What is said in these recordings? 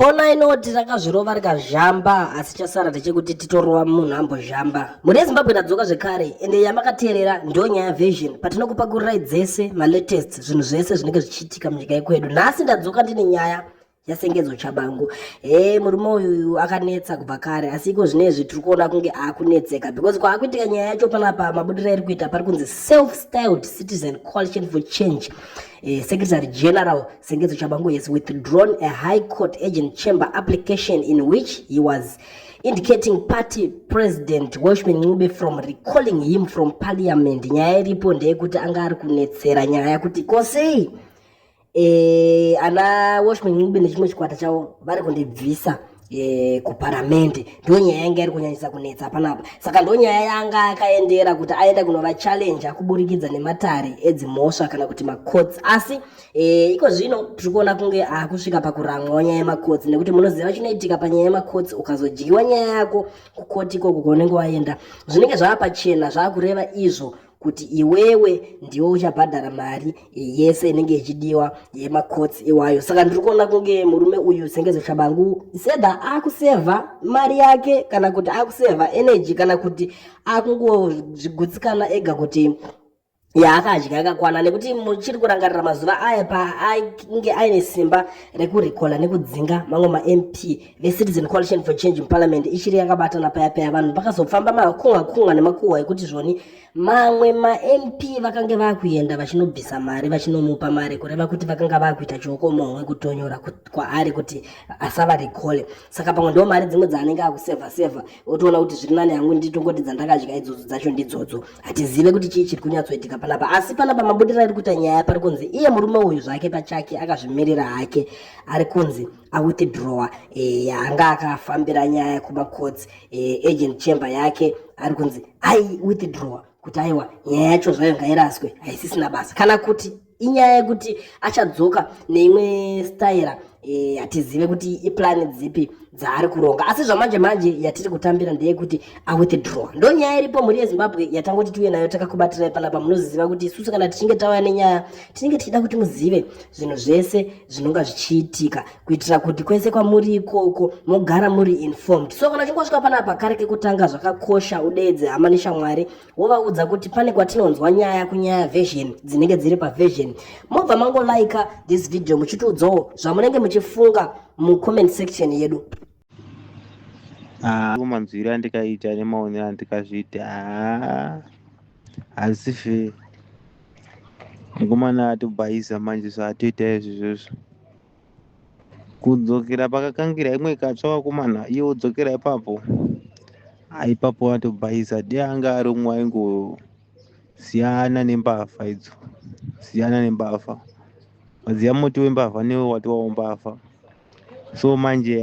Kona inoti rakazvirova rikazhamba asi chasara ndechekuti titorova munhu ambozhamba. Mhuri yeZimbabwe tadzoka zvekare ende yamakateerera ndiyo nyaya version patinokupakururai dzese malatest zvinhu zvese zvinenge zvichiitika munyika yekwedu. Nhasi ndadzoka ndine nyaya yasengedzo chabangu e murume uyu akanetsa kubva kare asi iko zvine izvi tiri kuona kunge akunetseka because kwaakuitika nyaya yacho panapa mabudiro airi kuita pari kunzi self styled citizen coalition for change e, secretary general Sengezo Chabangu has withdrawn a High Court Agent Chamber application in which he was indicating party president Welshman Ncube from recalling him from parliament. Nyaya iripo ndeyekuti anga ari kunetsera nyaya kuti ko sei eh, ana Welshman Ncube nechimwe chikwata chavo vari kundibvisa e, kuparamende ndo nyaya yanga iri kunyanyisa kunetsa panapa saka ndo nyaya yanga akaendera kuti aenda kunova challenja kuburikidza nematare edzimhosva kana kuti macots asi e, iko zvino tiri kuona kunge akusvika pakuramwawo nyaya yemacots nekuti munoziva chinoitika panyaya yemacots ukazodyiwa nyaya yako kukoti ikoko kwaunenge waenda zvinenge zvava pachena zvava kureva izvo kuti iwewe ndiwe uchabhadhara mari yese inenge ichidiwa yemakotsi iwayo saka ndiri kuona kunge murume uyu sengezo chabangu sedha akusevha mari yake kana kuti akusevha energy kana kuti akungozvigutsikana ega kuti yaakadya yakakwana nekuti muchiri kurangarira mazuva aya paainge aine simba rekurikola nekudzinga mamwe mamp vecitizen coalition for change muparliament ichiri yakabatana paya paya vanhu pakazopfamba makunga kunga nemakuhwa ekuti zvoni mamwe mamp vakange vakuenda vachinobvisa mari vachinomupa mari kureva kuti vakanga vakuita chiokomohwe kutonyora kwaari kuti asava recole saka pamwe ndo mari dzimwe dzaanenge akusevha sevha otoona kuti zviri nani hangu nditongoti dzandakadya idzodzo dzacho ndidzodzo hatizive kuti chii chiri kunyatsoitika panapa asi panapa mabudira ari kuita nyaya pari kunzi iye murume uyu zvake pachake akazvimirira hake ari kunzi awithdrowa e, eh, anga akafambira nyaya kumacourts e, eh, agent chamber yake ari kunzi ai withdrowa kuti aiwa nyaya yacho zvayo ngairaswe haisisina basa kana kuti inyaya yekuti achadzoka neimwe staira e, hatizive kuti iplani dzipi dzaari kuronga asi zvamanje manje yatiri kutambira ndeyekuti awithdrow ndo nyaya iripo mhuri yezimbabwe yatangoti tiuye nayo takakubatirai panapa munoziziva kuti isusu kana tichinge tauya nenyaya tinenge tichida kuti muzive zvinhu zvese zvinonga zvichiitika kuitira kuti kwese kwamuri ikoko mogara muri informed so kana uchinge wasvika panapa kare kekutanga zvakakosha udeedze hama neshamwari wovaudza kuti pane kwatinonzwa nyaya kunyaya version dzinenge dziri paversion mobva mangolaika this video muchitiudzawo zvamunenge muchifunga mucomment section yedu Ah, manzwiro andikaita nemaonero andikazviita ah, hazife mukomana atobhaiza manje so atoita izvizvozvo kudzokera pakakangira imwe ikatsva vakomana iye wodzokera ipapo ah, ipapo atobhaiza dei anga aromwa ingo siyana nembavha idzo siyana nembavha maziva muti wembavha newe watowawo mbavha so manje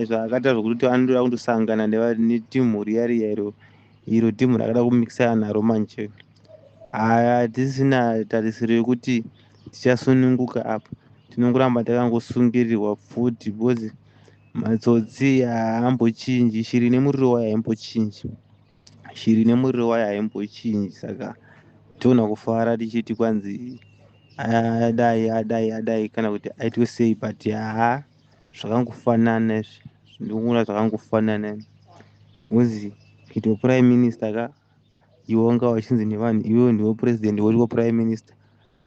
zvaakaita zvokuti anotoda kundosangana netimhu riya riya iro iro timhu rakada kumikisana naro manje hatisina tarisiro yekuti tichasununguka apa tinongoramba takangosungirirwa futi because matsotsi haambochinji shiri nemuriro wayo haimbochinji shiri nemuriro wayo haimbochinji saka toona kufara tichiti kwanzi adai adai adai kana kuti aitwe sei but haa zvakangofanana izvi ndikuona zvakangofanana kunzi kuitwa prime minister ka iwe wanga wachinzi nevanhu iwewe ndiwe president woriwo prime minister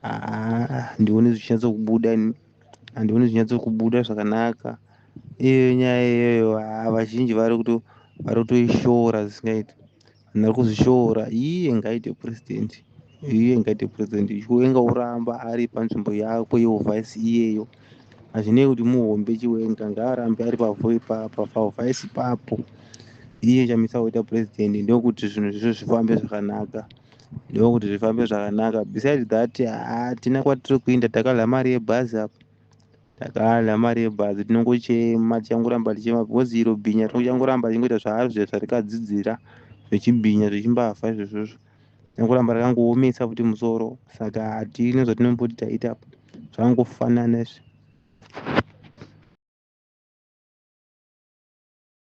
handioni zvichinyatsokubuda handioni zvichinyatsokubuda zvakanaka iyoyo nyaya iyoyo haa vazhinji vari kuto vari kutoishora zvisingaiti vanhu vari kuzvishora iye ngaite president iye ngaite president chiwenga oramba ari panzvimbo yako yeuvhaisi iyeyo hazvinei kuti muhombe chiwenga ngaarambe ari pavhaisi papo iye chamisa kuita president ndokuti zvinhu zvizvo zvifambe zvakanaka ndokuti zvifambe zvakanaka besides that hatina ah, kwatiri kuinda takadla mari yebhazi apo takadla mari yebhazi tinongochema tichangoramba tichema because iro bhinya tinochangoramba tichingoita zvaari zve zvarikadzidzira zvechibhinya zvechimbafa izvozvozvo tinongoramba rakangoomesa futi musoro saka hatine zvatinomboti taita apo zvakangofanana izvi